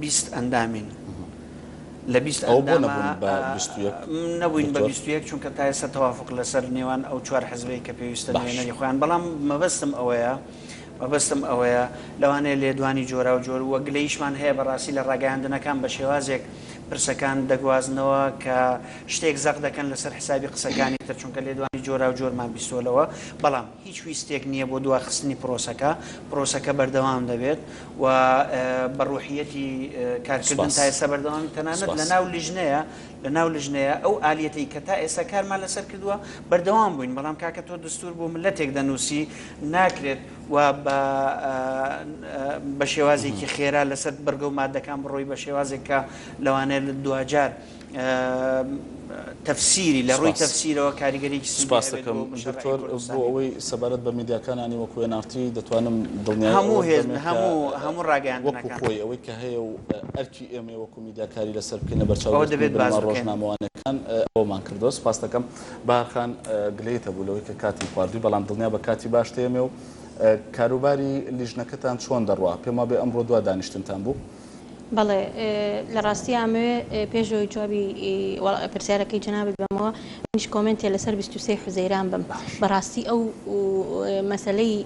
بیست ئەندامین لە بیست ئەوە بۆ ئەندامە نەبوون بە بیست و یەک نەبووین بە دکتۆر؟ بیست و یەک چونکە تا ئێستا تەوافوق لەسەر نێوان ئەو چوار حزبەی کە پێویستە باش. نوێنەری خۆیان بەڵام مەبەستم ئەوەیە مەبەستم ئەوەیە لەوانەیە لێدوانی جۆراوجۆر وە گلەییشمان هەیە بەڕاستی لە ڕاگەیاندنەکان بە شێوازێک پرسەکان دەگوازنەوە کە شتێک زەق دەکەن لەسەر حسابی قسەکانی تر چونکە لێدوانی جۆراوجۆرمان بیستووە لەوە بەڵام هیچ ویستێک نییە بۆ دواخستنی پرۆسەکە پرۆسەکە بەردەوام دەبێت و بە ڕوحیەتی کارکردن تا ئێستا بەردەوامی تەنانەت لە ناو لیژنەیە لە ناو لیژنەیە ئەو ئالیەتەی کە تا ئێستا کارمان لەسەر کردووە بەردەوام بووین بەڵام کاکە تۆ دستور بۆ ملەتێک دەنووسی ناکرێت و بە بە شێوازێکی خێرا لەسەر بڕگە و مادەکان بڕۆی بە شێوازێک کە لەوانەیە دواجار تەفسیری لە ڕووی تەفسیرەوە کاریگەریەکی سودی هەبێت سوپاست دەکەم دکتۆر بۆ ئەوەی سەبارەت بە میدیاکانانی وەکو ئێن ئاڕ تی دەتوانم دڵنیایی ئەوەت بەم هەموو هێز هەموو هەموو ڕاگەیاندنەکان وەکو خۆی ئەوەی کە هەیە و ئەرکی ئێمەیە وەکو میدیا کاری لەسەر بکەین لە بەرچاو ئەوە دەبێت باس بکەین ڕۆژنامەوانەکان ئەوەمان کردوە سوپاست دەکەم بەهار خان گلەیت هەبوو لەوەی کە کاتم خواردووی بەڵام دڵنیا بە کاتی باشت هەیە ئێمێ و کاروباری لیژنەکەتان چۆن دەڕوا پێم وابێ ئەمڕۆ دوا دانیشتنتان بوو بەڵێ لە ڕاستی ئامەوێ پێش ئەوەی جوابی پرسیارەکەی جەنابت بەمەوە منیش کۆمنتێ لەسەر 23 حوزەیران بم بەڕاستی ئەو مەسلەی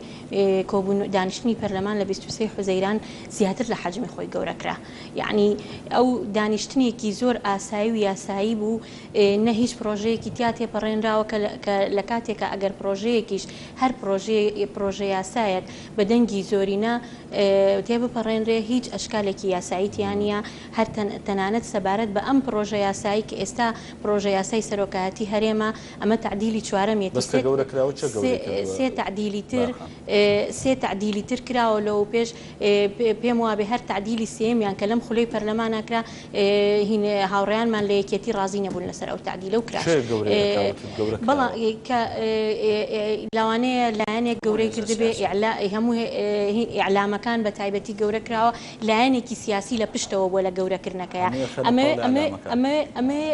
کۆبوون دانیشتنی پەرلەمان لە 23 حوزەیران زیاتر لە حەجمی خۆی گەورەکرا یعنی ئەو دانیشتنێکی زۆر ئاسایی و یاسایی بوو نە هیچ پرۆژەیەکی تیا تێپەڕێنراوە کە لە کاتێکە ئەگەر پرۆژەیەکیش هەر پرۆژەیە پرۆژە یاسایەک بە دەنگی زۆرینە تێبپەڕێنرێ، هیچ ئەشکالێکی یاسایی تیا نییە، هەر تەنانەت سەبارەت بە ئەم پڕۆژە یاسایی کە ئێستا پڕۆژە یاسای سەرۆکایەتی هەرێمە، ئەمە تەعدیلی چوارەمیەتی، سێ تەعدیلی تر سێ تەعدیلی تر کراوە لەوەوپێش، پێموابێ هەر تەعدیلی سێیەمیان کە لەم خولەی پەرلەمانا کرا، هین هاوڕێیانمان لە یەکێتی ڕازی نەبوون لەسەر ئەو تەعدیلە و کراس. کێ گەورەی ئەکا وتت گەورە بەڵ کراوە؟ کە لەوانەیە لایەنێک بۆ گەورەی هێزە کردبێ سیاسی. ئیعلا هەموو هین ئیعلامەکان بە تایبەتی گەورە کراوە لایەنێکی سیاسی لە پشتەوە بووە لە گەورە کردنەکەیا. هەمووی خەنە ئەمەوێ قەولی ئەمەوێ ئیعلامەکان. ئەمەوێ ئەمەوێ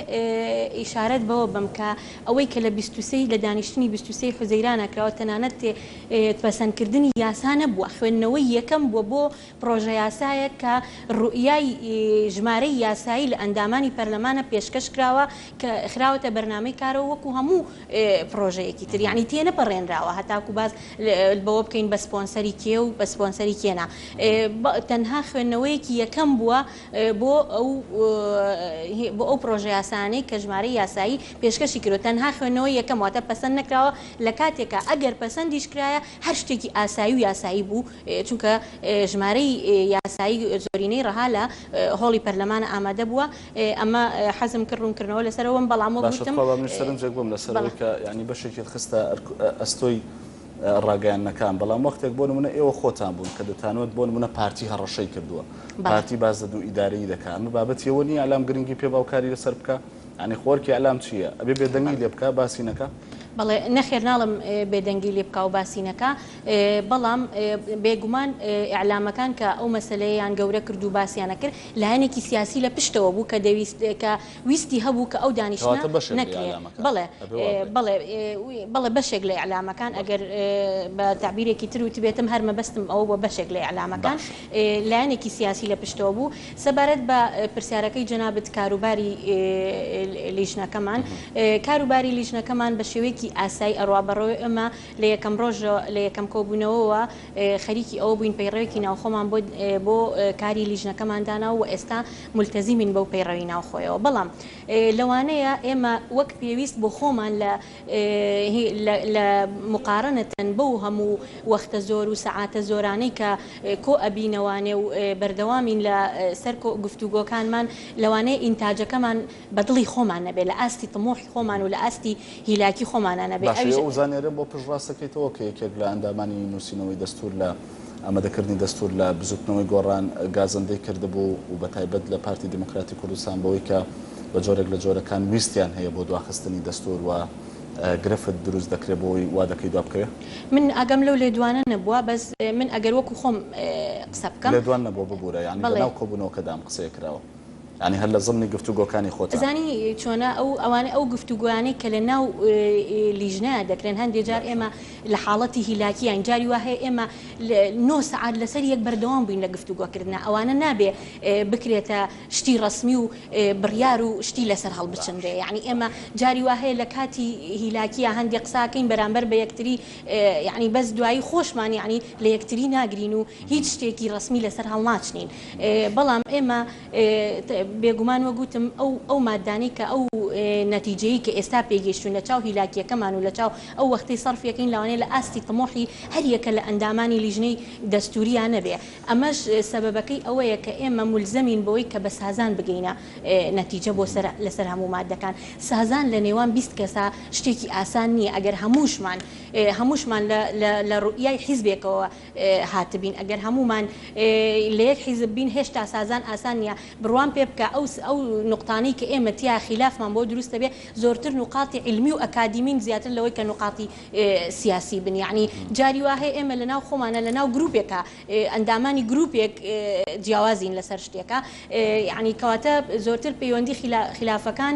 ئیشارەت بەوە بەم کە ئەوەی کە لە بیست و سێ ی لە دانیشتنی بیست و سێ ی حوزەیرانە کراوە تەنانەت تێ پەسەند کردنی یاسا نەبووە خوێندنەوەی یەکەم بووە بۆ پڕۆژەیاسایەک کە روئیای ژمارەی یاسایی لە ئەندامانی پەرلەمانە پێشکەش کراوە کە خراوەتە بەرنامەی کارەوە وەکو هەموو پڕۆژەیەکی تر یانی تێنەپەڕێنراوە هەتاکو باس بەوە بکەین بە سپۆنسەری کێ و بە سپۆنسەری کێ نا تەنها خوێندنەوەیەکی یەکەم بووە بۆ ئەو بۆ ئەو پڕۆژەیاسایانەی کە ژمارەی یاسایی پێشکەشی کردوە تەنها خوێندنەوەی یەکەم واتە پەسەند نەکراوە لە کاتێکا ئەگەر پەسەندیش کرایە هەر شتێکی ئاسایی و یاسایی بوو چونکە ژمارەی یاسایی زۆرینەی ڕەها لە هۆڵی پەرلەمانە ئامادە بووە، ئەمە حەزم کرد ڕوونکردنەوە لەسەر ئەوەم بەڵام وەک باشە وتم تخوا با منیش سەرنجێک بم لەسەر ئەوەی بەڵێ. کە یانی بەشێکیت خستە ئەستۆی ڕاگەیاندنەکان بەڵام وەختێک بۆ نمونە ئێوە خۆتان بوون کە دەتانوت بۆ نمونە پارتی هەڕەشەی کردووە بەڵێ. پارتی باس لە دوو ئیدارەیی دەکا ئەمە بابەتی ئەوە نییە ئیلام گرنگی پێ با و کاری لەسەر بکا یانی خۆ ئەرکی ئیلام چی یە ئەبێ بێدەنگی بەڵێ. لێ بکا باسی نەکا؟ بەڵێ نەخێر ناڵێم بێدەنگی لێ بکا و باسی نەکا، بەڵام بێگومان ئیعلامەکان کە ئەو مەسەلەیەیان گەورە کرد و باسیان ئەکرد لایەنێکی سیاسی لە پشتەوە بوو کە دەویست کە ویستی هەبوو کە ئەو دانیشتنە نەکرێ بەڵێ بەڵێ بەڵێ بەشێک لە ئیعلامەکان ئەگەر بە تەعبیرێکی تر وتبێتم هەر مەبەستم ئەوە بووە بەشێک لە ئیعلامەکان لایەنێکی سیاسی لە پشتەوە بوو سەبارەت بە پرسیارەکەی جەنابت کاروباری لیژنەکەمان کاروباری لیژنەکەمان بە شێوەیەکی ئاسایی ئەڕوا بەڕێوەی ئێمە لە یەکەم ڕۆژ لە یەکەم کۆبوونەوەوە خەریکی ئەوە بووین پەیڕەوێکی ناوخۆمان بۆ بۆ کاری لیژنەکەمان داناو و ئێستا مولتەزیمین بەو پەیڕەوی ناوخۆیەوە بەڵام لەوانەیە ئێمە وەک پێویست بۆ خۆمان لە لە لە موقارەنەتەن بەو هەموو وەختە زۆر و سەعاتە زۆرانەی کە کۆ ئەبینەوانێ و بەردەوامین لە سەر گفتوگۆکانمان لەوانەیە ئینتاجەکەمان بە دڵی خۆمان نەبێ، لە ئاستی طموحی خۆمان و لە ئاستی هیلاکی خۆمانا نەبێ، باشە ئەویش. ئێوە زانیاریم بۆ پشت ڕاست دەکەیتەوە کە یەکێک لە ئەندامانی نووسینەوەی دەستوور لە ئامادەکردنی دەستوور لە بزووتنەوەی گۆڕان گازەندەی کردبوو و بە تایبەت لە پارتی دیموکراتی کوردستان بەوەی کە بە جۆرێک لە جۆرەکان ویستیان هەیە بۆ دواخستنی دەستوور و گرفت دروست دەکرێ بۆی وا دەکەی دوا بکەوێ؟ من ئاگام لەو لێدوانە نەبووە بەس من ئەگەر وەکوو خۆم قسە بکەم. لێدوان نەبووە ببوورە یانی لە بەڵێ. ناو کۆبوونەوەکەدا ئەم قسەیە کراوە. یانی هەر لە زمنی گفتوگۆکانی خۆتان. زانی چۆنە ئەو ئەوانە ئەو گفتوگۆیانەی کە لە ناو لیژنەیە دەکرێن هەندێ جار ئێمە لە حاڵەتی هیلاکیین جاری وا هەیە ئێمە لە نۆ سەعات لەسەر یەک بەردەوام بووین لە گفتوگۆ کردنا ئەوانە نابێ بکرێتە شتی ڕەسمی و بڕیار و شتی لەسەر هەڵبچنرێ یانی ئێمە جاری وا هەیە لە کاتی هیلاکیە هەندێ قساکەین بەرامبەر بە یەکتری یانی بەس دوایی خۆشمان یانی لە یەکتری ناگرین و هیچ شتێکی ڕەسمی لەسەر هەڵناچنین بەڵام ئێمە بێگومان وەک وتم ئەو ئەو ماددانەی کە ئەو نەتیجەیی کە ئێستا پێی گەیشتووین لە چاو هیلاکییەکەمان و لە چاو ئەو وەختەی سەرفیەکەین لەوانەیە لە ئاستی تموحی هەر یەکە لە ئەندامانی لیژنەی دەستووریا نەبێ ئەمەش سەبەبەکەی ئەوەیە کە ئێمە مولزەمین بەوەی کە بە سازان بگەینە نەتیجە بۆ سەر لەسەر هەموو ماددەکان سازان لە نێوان بیست کەسا شتێکی ئاسان نییە ئەگەر هەمووشمان هەمووشمان لە لە لە روئیای حیزبێکەوە هاتبین ئەگەر هەموومان لە یەک حیزب بین هێشتا سازان ئاسان نیە بڕوام پێ بکە ئەو نوقتانەی کە ئێمە تیا خیلافمان بۆ دروست دەبێ زۆرتر نوقاتی عیلمی و ئەکادیمین زیاتر لەوەی کە نوقاتی سیاسی بن یەعنی جاری وا هەیە ئێمە لە ناو خۆمانا لە ناو گروپێکا ئەندامانی گروپێک جیاوازین لەسەر شتێکا یەعنی کەواتە زۆرتر پەیوەندی خیلافەکان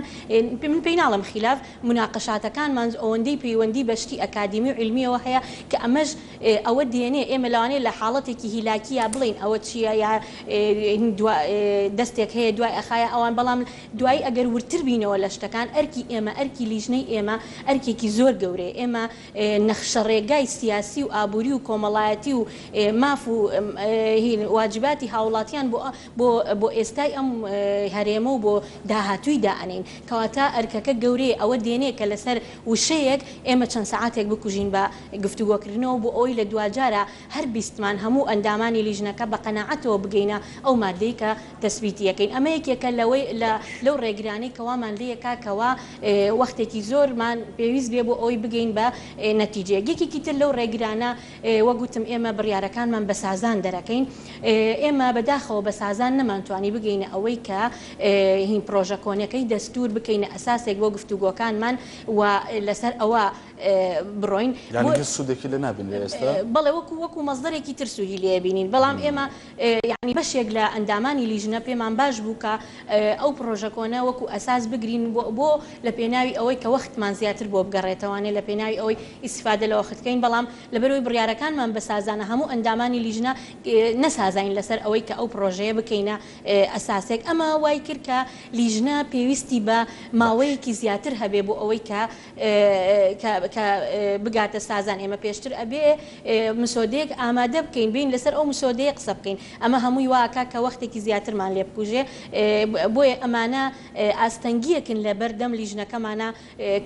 من پێی ناڵێم خیلاف مناقشاتەکانمان ئەوەندەی پەیوەندی بە شتی ئەکادیمی و عیلمیەوە هەیە کە ئەمەش ئێ ئەوە دێنێ ئێمە لەوانەیە لە حاڵەتێکی هیلاکییا بڵێین ئەوە چییە یا دوا دەستێک هەیە دوای ئەخایە ئەوان بەڵام دوایی ئەگەر وردتر بینەوە لە شتەکان ئەرکی ئێمە ئەرکی لیژنەی ئێمە ئەرکێکی زۆر گەورەیە ئێمە نەخشە ڕێگای سیاسی و ئابووری و کۆمەڵایەتی و ماف و واجباتی هاوڵاتیان بۆ بۆ بۆ ئێستای ئەم هەرێمە و بۆ داهاتووی دائەنێین کەواتە ئەرکەکە گەورەیە ئەوە دێنێ کە لەسەر وشەیەک ئێمە چەند سەعاتێک بکوژین بە گفتوگۆکردنەوە بۆ ئەوەی لە دواجارە هەر بیستمان هەموو ئەندامانی لیژنەکە بە قەناعەتەوە بگەینە ئەو ماددەی کە تەسبیتی ئەکەین ئەمە یەکێکە لەوەی لە لەو ڕێگرانەی کە وامان لێ یەکا کە وا وەختێکی زۆرمان پێویست بێ بۆ ئەوەی بگەین بە نەتیجەیەک یەکێکی تر لەو ڕێگرانە وەک وتم ئێمە بڕیارەکانمان بە سازان دەرەکەین ئێمە بە داخەوە بە سازان نەمان توانی بگەینە ئەوەی کە هین پڕۆژە کۆنەکەی دەستوور بکەینە ئەساسێک بۆ گفتوگۆکانمان و لەسەر ئەوە بڕۆین. یانی هیچ سوودێکی لێ نابینرێ ئێستا؟ بەڵێ وەکو وەکو مەسدەرێکی تر سوودی لێ ئەبینین، بەڵام ئێمە یانی بەشێک لە ئەندامانی لیژنە پێمان باش بوو کە ئەو پڕۆژە کۆنە وەکو ئەساس بگرین بۆ بۆ لە پێناوی ئەوەی کە وەختمان زیاتر بۆ بگەڕێتەوانێ لە پێناوی ئەوەی ئیستیفادە لە وەخت کەین بەڵام لەبەرئەوەی بڕیارەکانمان بە سازانە هەموو ئەندامانی لیژنە نەسازاین لەسەر ئەوەی کە ئەو پڕۆژەیە بکەینە ئەساسێک ئەمە وای کرد کە لیژنە پێویستی بە ماوەیەکی زیاتر هەبێ بۆ ئەوەی کە کە کە بگاتە سازان ئێمە پێشتر ئەبێ مسۆدەیەک ئامادە بکەین بێین لەسەر ئەو مسۆدەیە قسە بکەین ئەمە هەمووی وا ئەکا کە وەختێکی زیاترمان لێ بکوژێ بۆیە ئەمانە ئاستەنگیەکن لە بەر دەم لیژنەکەمانا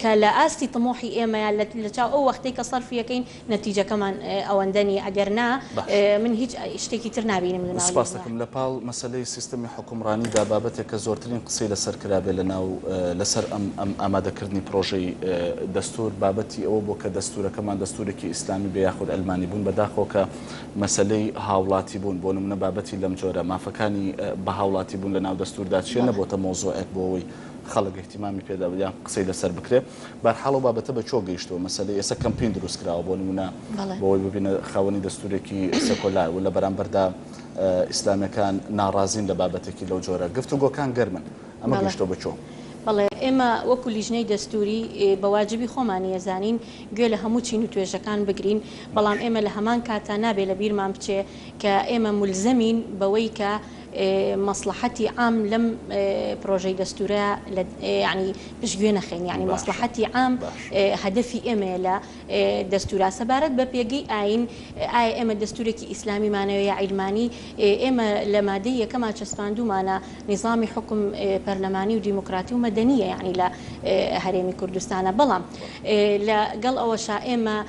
کە لە ئاستی تموحی ئێمەیە لە چاو ئەو وەختەی کە سەرفی ئەکەین نەتیجەکەمان ئەوەندە نیە ئەگەر نا باش. من هیچ شتێکی تر نابینم لە ناو سوپاست لوبنان. دەکەم. لە پاڵ مەسەلەی سیستەمی حوکمڕانی دا بابەتێک کە زۆرترین قسەی لە سەر کرابێ لە ناو لە سەر ئەم ئەم ئامادە کردنی پڕۆژەی دەستور بابەتی ئەوە بوە کە دەستورەکەمان دەستورێکی ئیسلامی بێ یاخود عەلمانی بون بە داخەوە کە مەسەلەی هاوڵاتی بون بۆ نمونە بابەتی لەم جۆرە مافەکانی بە هاوڵاتی بون لە ناو دەستور دا چیە بەڵێ. نەبۆتە مەوزوعێک بۆ ئەوەی خەڵک ئیهتیمامی پێ دا یان قسەی لە سەر بکرێ. بەرحاڵ ئەو بابەتە بە کوێوە گەیشتووە مەسەلەی ئێستا کەمپین دروست کراوە بۆ نموونە بەڵێ. بۆوەی ببینە خاوەنی دەستوورێکی سێکۆلار و لە بەرامبەردا ئیسلامیەکان ناڕازین لە بابەتێکی لەو جۆرە گفتوگۆکان گەرمن ئەمە بەڵێ. گەیشتووە بە کوێ؟ بەڵێ ئێمە وەکوو لیژنەی دەستووری بە واجبی خۆمانە زانین گوێ لە هەموو چین و توێژەکان بگرین بەڵام باش. ئێمە لە هەمان کاتدا نابێ لە بیرمان بچێ کە ئێمە مولزەمین بەوەی کە مەسڵەحەتی عام لەم پرۆژەی دەستورە لە یعنی پشگوێ نەخەین یعنی مەسڵەحەتی عام هەدەفی ئێمەیە لە دەستورا سەبارەت بە پێگەی ئاین ئایا ئێمە دەستورێکی ئیسلامی مانەوە یا عیلمانی ئێمە لە مادەی یەکەما چەسپاندومانە نیزامی حوکم پەرلەمانی و دیموکراتی و مەدەنیە یعنی لە هەرێمی کوردستانە بەڵام لە گەڵ ئەوەشا ئێمە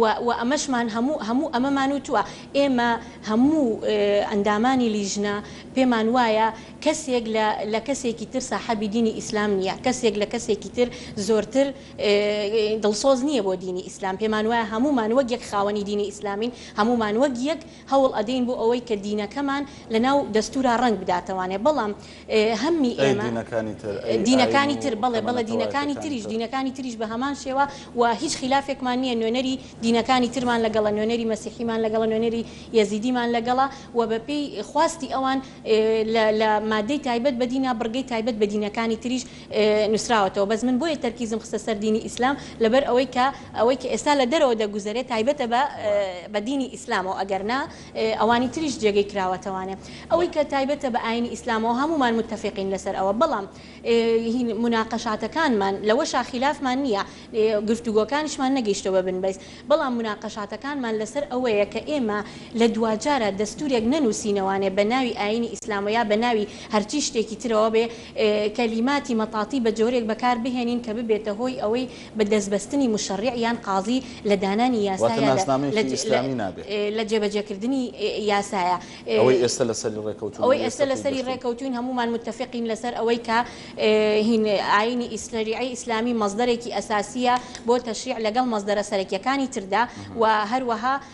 و و ئەمەشمان هەموو هەموو ئەمەمان وتووە، ئێمە هەموو ئەندامانی لیژنە پێمان وایە کەسێک لە لە کەسێکی تر ساحەبی دینی ئیسلام نییە، کەسێک لە کەسێکی تر زۆرتر دڵسۆز نییە بۆ دینی ئیسلام، پێمان وایە هەموومان وەک یەک خاوەنی دینی ئیسلامین، هەموومان وەک یەک هەوڵ ئەدەین بۆ ئەوەی کە دینەکەمان لە ناو دەستورا ڕەنگ بداتەوانێ بەڵام هەممی ئێمە. ئەی دینەکانی تر؟ ئەی ئاین و کۆمەڵە تەوایەتیەکانی تر؟ دینەکانی تریش بە هەمان شێوە و هیچ خیلافێکمان نیە نوێنەری دینەکانی ترمان لەگەڵە نوێنەری مەسیحیمان لەگەڵە نوێنەری یەزیدیمان لەگەڵە و بە پێی خواستی ئەوان لە لە مادەی تایبەت بە دینا بڕگەی تایبەت بە دینەکانی تریش نوسراوەتەوە بەس من بۆیە تەرکیزم خستە سەر دینی ئیسلام لەبەر ئەوەی کە ئەوەی کە ئێستا لە دەرەوە دەگوزەرێ تایبەتە بە بە دینی ئیسلامەوە ئەگەر نا ئەوانی تریش جێگەی کراوەتەوانێ ئەوەی کە تایبەتە بە ئاینی ئیسلامەوە هەموومان متفقین لەسەر ئەوە بەڵام هین موناقەشاتەکانمان لەوەشا خیلافمان نییە گفتوگۆکانیشمان نەگەیشتوە بە بن بەیس بەڵام موناقەشاتەکانمان لەسەر ئەوەیە کە ئێمە لە دواجارە دەستورێک نەنوسینەوانێ بە ناوی ئاینی ئیسلامەوە یا بە ناوی هەرچی شتێکی ترەوە بێ کەلیماتی مەطاطی بە جۆرێک بەکار بهێنین کە ببێتە هۆی ئەوەی بە دەست بەستنی موشەڕیع یان قازی لە دانانی یاسا واتە یا لە ناسنامەیەکی ئیسلامی نابێ. لە جێبەجێکردنی یاسایە. ئەوەی ئێستە لە سەری ڕێکەوتوون و ئەوەی ئێستە ئێستە لە پێی سەری گەشتوون. ڕێکەوتووین هەموومان متفقین لە سەر ئەوەی کە هین ئایینی ئیس شەریعەی ئیسلامی مەسدەرێکی ئەساسییە بۆ تەشریع لەگەڵ مەسدەرە سەرەکییەکانی تردا و هەروەها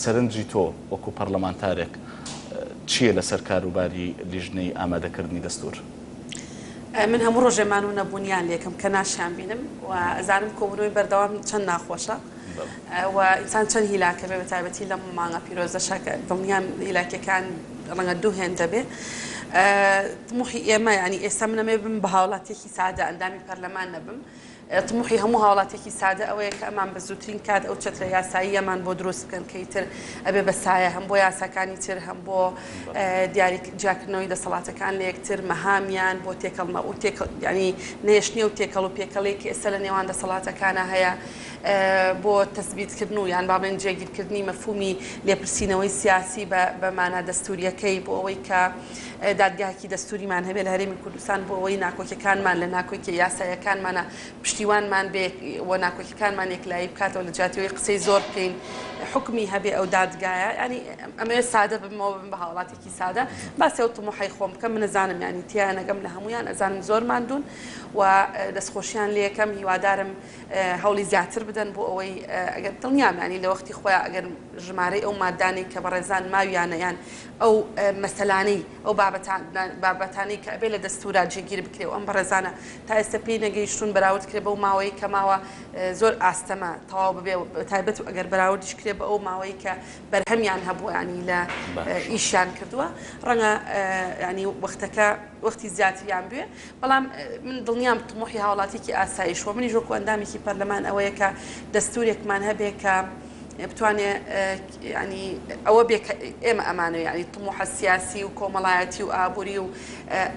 سەرنجی تۆ وەکو پەرلەمانتارێک چییە لەسەر کاروباری لیژنەی ئامادەکردنی دەستور؟ من هەموو ڕۆژێ مان و نەبوونیان لەکم کە ناشیان بینم و ئەزانم کۆبوونەوەی بەردەوام چەند ناخۆشە و ئینسان چەند هیلاکە بێ بەتایبەتی لەم مانگە پیرۆزەشە کە دڵنیام هیلاکیەکان ڕەنگە دوو هێندە بێ طموحی ئێمە یانی ئێستا من ئەمەوێ بم بە هاوڵاتیەکی سادە ئەندامی پەرلەمان نەبم تموحی هەموو هاوڵاتیەکی سادە ئەوەیە کە ئەمان بە زووترین کات ئەو چەترە یاساییەمان بۆ دروست بکەن کە ئیتر ئەبێ بە سایە هەم بۆ یاساکانی تر هەم بۆ دیاری جیاکردنەوەی دەسەڵاتەکان لە یەکتر مەهامیان بۆ تێکەڵمە و تێکەڵ یعنی نێشتنی و تێکەڵ و پێکەڵی کە ئێستا لە نێوان دەسەڵاتەکانە هەیە بۆ تەسبیتکردن و یان بابلێن جێگیرکردنی مەفهومی لێپرسینەوەی سیاسی بە بە مانا دەستووریەکەی بۆ ئەوەی کە دادگایەکی دەستووریمان هەبێت لە هەرێمی کوردستان بۆ ئەوەی ناکۆکیەکانمان لە ناکۆکیە یاسایەکانمانە پشتیوانمان بێ و ناکۆکیەکانمان یەکلایی بکاتەوە لە جیاتی ئەوەی قسەی زۆر بکەین حکمی هەبێ ئەو دادگایە ینی ئەمەوێت سادە بمەوە بم بە هاوڵاتێکی سادە باسێ و تمحی خۆم بکەم من نەزانم ینی تیا نەگەم لە هەمویان ئەزانم زۆر ماندون و دەستخۆشیان لە یەکەم هیوادارم هەوڵی زیاتر بدەن بۆ ئەوەی ئەگەر دڵنیامانی لە وەختی خۆیان ئەگەر ژمارەی ئەو مادانەی کە بەڕێزان ماویانەیان ئەو مەسەلانەی ئەو بابەتانەی کە ئەبێ لە دەستوورا جێگیر بکرێ و ئەم بەڕێزانە تا ئێستە پێی نەگەیشتوون بەراورد کرێ بەو ماوەیەی کە ماوە زۆر ئاستەمە تەواو ببێ و بەتایبەت و ئەگەر بەراوردیش کرێ بە ئەو ماوەی کە بەرهەمیان هەبووە یانی لە ئیشیان کردووە ڕەنگە یانی وەختەکە وەختی زیاتریان بوێ بەڵام من دڵنیام تموحی هاوڵاتیکی ئاسایش و منیش وەکو ئەندامیکی پەرلەمان ئەوەیە کە دەستورێکمان هەبێ کە بتوانێ ینی ئەوە بێ ئێمە ئەمانەوە ینی تموحە سیاسی و کۆمەڵایەتی و ئابووری و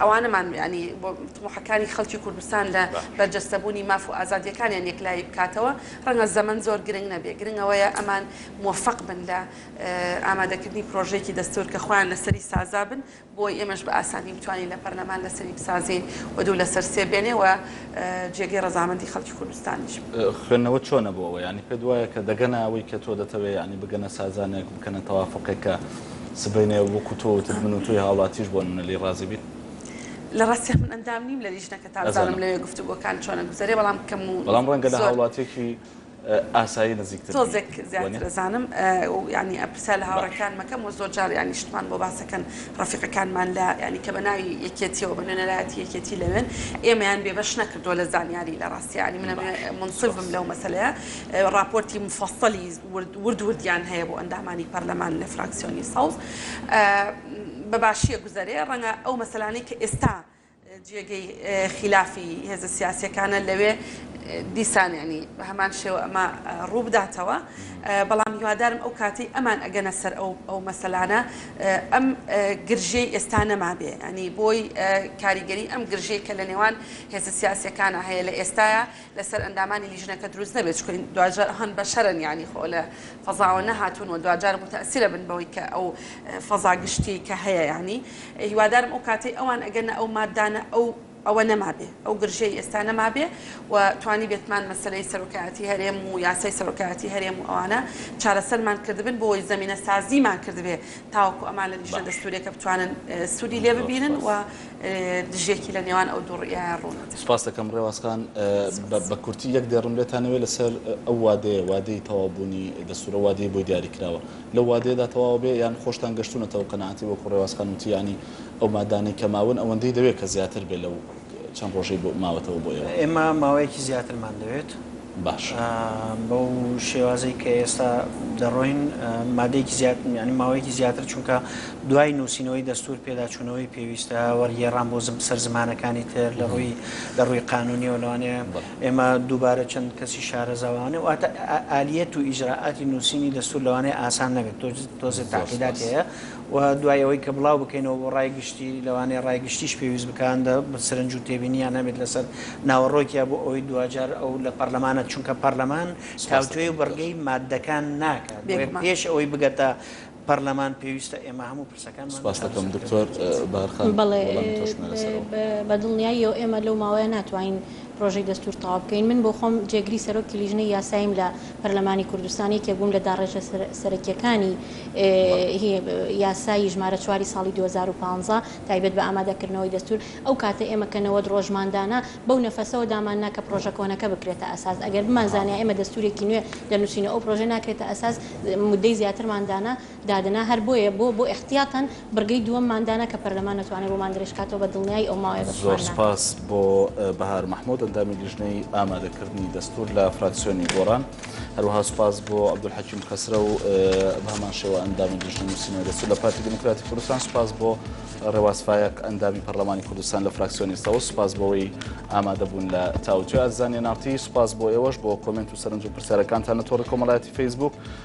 ئەوانەمان ینی بۆ تموحەکانی خەڵکی کوردستان لە بەرجەستەبوونی ماف و ئازادیەکانیان یەکلایی بکاتەوە ڕەنگە زەمن زۆر گرنگ نەبێ گرنگەوەیە ئەمان موفق بن لە ئامادەکردنی پرۆژێکی دەستور کە خۆیان لەسەری سازا بن بۆی ئێمەش بە ئاسانی بتوانین لە پەرلەمان لەسەری بسازین و دوو لەسەر سێ بێنێ و جێگەی ڕەزامەندی خەڵکی کوردستانیش بێ. خوێندنەوەت چۆنە بۆ ئەوە؟ یانی پێت وایە کە دەگەنە ئەوەی کە تۆ دەتەوێ یانی بگەنە سازانێک بکەنە تەوافوقێک کە سبەینێ وەکو تۆ وتت من و تۆی هاوڵاتیش بۆ نمونە لێی ڕازی بین؟ لە ڕاستیا من ئەندام نیم لە لیژنەکە تا بزانم لەوێ گفتوگۆکان چۆنە گوزەرێ بەڵام کەم و زۆر. بەڵام ڕەنگە لە هاوڵاتیەکی. ئاسایی نزیکتر بی. تۆزێک زیاتر ئەزانم و یانی ئەپرسا لە هاوڕێکان مەکەم و زۆر جار یانی شتمان بۆ باس ئەکەن ڕەفیقەکانمان لە یانی کە بە ناوی یەکێتیەوە بە نوێنەرایەتی یەکێتی لەوێن ئێمەیان بێ بەش نەکردووە لە زانیاری لە ڕاستی یانی من ئەموێ مونسیف بم لەو مەسەلەیە ڕاپۆرتی مفەسەلی ورد ورد وردیان هەیە بۆ ئەندامانی پەرلەمان لە فراکسیۆنی سەوز بە باشیە گوزەرێ ڕەنگە ئەو مەسەلانەی کە ئێستا جێگەی خیلافی هێزە سیاسیەکانە لەوێ دیسان یانی بە هەمان شێوە ئەمە ڕووبداتەوە بەڵام هیوادارم ئەو کاتی ئەمان ئەگەنە سەر ئەو ئەو مەسەلانە ئەم گرژەی ئێستا نەمابێ ئەنی بۆی کاریگەری ئەم گرژەی کە لە نێوان هێزە سیاسەکانە هەیە لە ئێستاە لەسەر ئەندامانی لیژنەکە دروست نەبێت چونکە دواجار ئەوان بەشەرن یانی خۆ لە فەزاوە نەهاتون و دواجار موتەئسیرە بن بەوەی کە ئەو فەزا گشتی کە هەیە یانی هیوادارم ئەو کاتەی ئەوان ئەگەنە ئەو ماددانە ئەو ئەوە نەمابێ ئەو گرژیەی ئێستا نەمابێ و توانیبێتمان مەسەلەی سەرۆکایەتی هەرێم و یاسای سەرۆکایەتی هەرێم و ئەوانە چارەسەرمان کردبن بۆ وەی زەمینە سازیمان کردبێ تاوەکو ئەمان لە لیژنە دەستوریەکە بتوانن سودی لێ ببینن و دژیەکی لە نێوان ئەو دوو ڕیایە ڕوونە. سوپاست دەکەم ڕێواز خان. بە کورتی یەک دێڕم لێتان ئەوێ لە سەر ئەو وادەیە، وادەی تەواو بوونی دەستوورە وادەی بۆی دیاری کراوە لەو وادەیەدا تەواو بێ یان خۆشتان گەشتوونەتە ئەو قەناعەتی وەکوو ڕێواز خان وتی یانی ئەو مادانەی کە ماون ئەوەندەی دەوێ کە زیاتر بێ لەو چەند ڕۆژەی ماوەتەوە بۆ ئێوە؟ ئێمە ماوەیەکی زیاترمان دەوێت باشە. بەو شێوازەی کە ئێستا دەڕۆین مادەیەکی زیاد یانی ماوەیەکی زیاتر چونکە دوای نووسینەوەی دەستوور پێداچوونەوەی پێویستە وەرگێڕان بۆ سەر زمانەکانی تر لە ڕووی لە ڕووی قانونیەوە لەوانەیە ئێمە دووبارە چەند کەسی شارەزاوانێ واتە ئالیەت و ئیجرائاتی نووسینی دەستوور لەوانەیە ئاسان نەبێت تۆزێ تاقیدات هەیە و دوای ئەوەی کە بڵاو بکەینەوە بۆ ڕای گشتی، لەوانەیە ڕای گشتیش پێویست بکاند سرنج و تێبینیان هەبێت لەسەر ناوەڕۆکیا بۆ ئەوەی دواجار ئەو لە پەڕلەمانە، چونکە پەڕلەمان تاوتوێی و بڕگەی ماددەکان ناکات، بۆیە پێش ئەوەی بگەتە پەڕلەمان پێویستە ئێمە هەموو پرسەکانمان لە چارەسەر کردنی بێت. بەڵێ بە دڵنیاییەوە ئێمە لەو ماوەیە ناتوانین پرۆژەی دەستور تەواو بکەین. من بۆ خۆم جێگری سەرۆکی لیژنەی یاساییم لە پەرلەمانی کوردستان، یەکێک بووم لە داڕێژە سەرەکییەکانی یاسای ژمارە چواری ساڵی دوو هەزار و پازدە تایبەت بە ئامادەکردنەوەی دەستور، ئەو کاتە ئێمە کە نەوەد ڕۆژمان دانا بەو نەفەسەوە داماننا کە پرۆژە کۆنەکە بکرێتە ئەساس، ئەگەر بمانزانیا ئێمە دەستورێکی نوێ دەنووسین و ئەو پرۆژە ناکرێتە ئەساس مودەی زیاترمان دانا، دادەنا هەر بۆیە بۆ بۆ احتیاطەن بڕگەی دووەممان دانا کە پەرلەمان نەتوانێت ڕوومان درێژ بکاتەوە بە دڵنیایی ئەو ماوەیە بە زۆر سوپاس. سپاس بۆ بەهار مەحمود ئەندامی لیژنەی ئامادەکردنی دەستور لە فراکسیۆنی گۆڕان هەروەها سپاس بۆ عەبدولحەکیم خەسرەو بەهەمان شێوە ئەندامی لیژنەی نوسینەوەی دەستور لە پارتی دیموکراتی کوردستان سپاس بۆ ڕێواز فایەق ئەندامی پەرلەمانی کوردستان لە فراکسیۆنی سەوز سپاس بۆوەی ئامادەبون لە تاوتوێ ئەرزانیە ناڕتی سپاس بۆ ئێوەش بۆ کۆمێنت و سەرنج و پرسیارەکانتان لە تۆڕی کۆمەڵایەتی فەیسبوک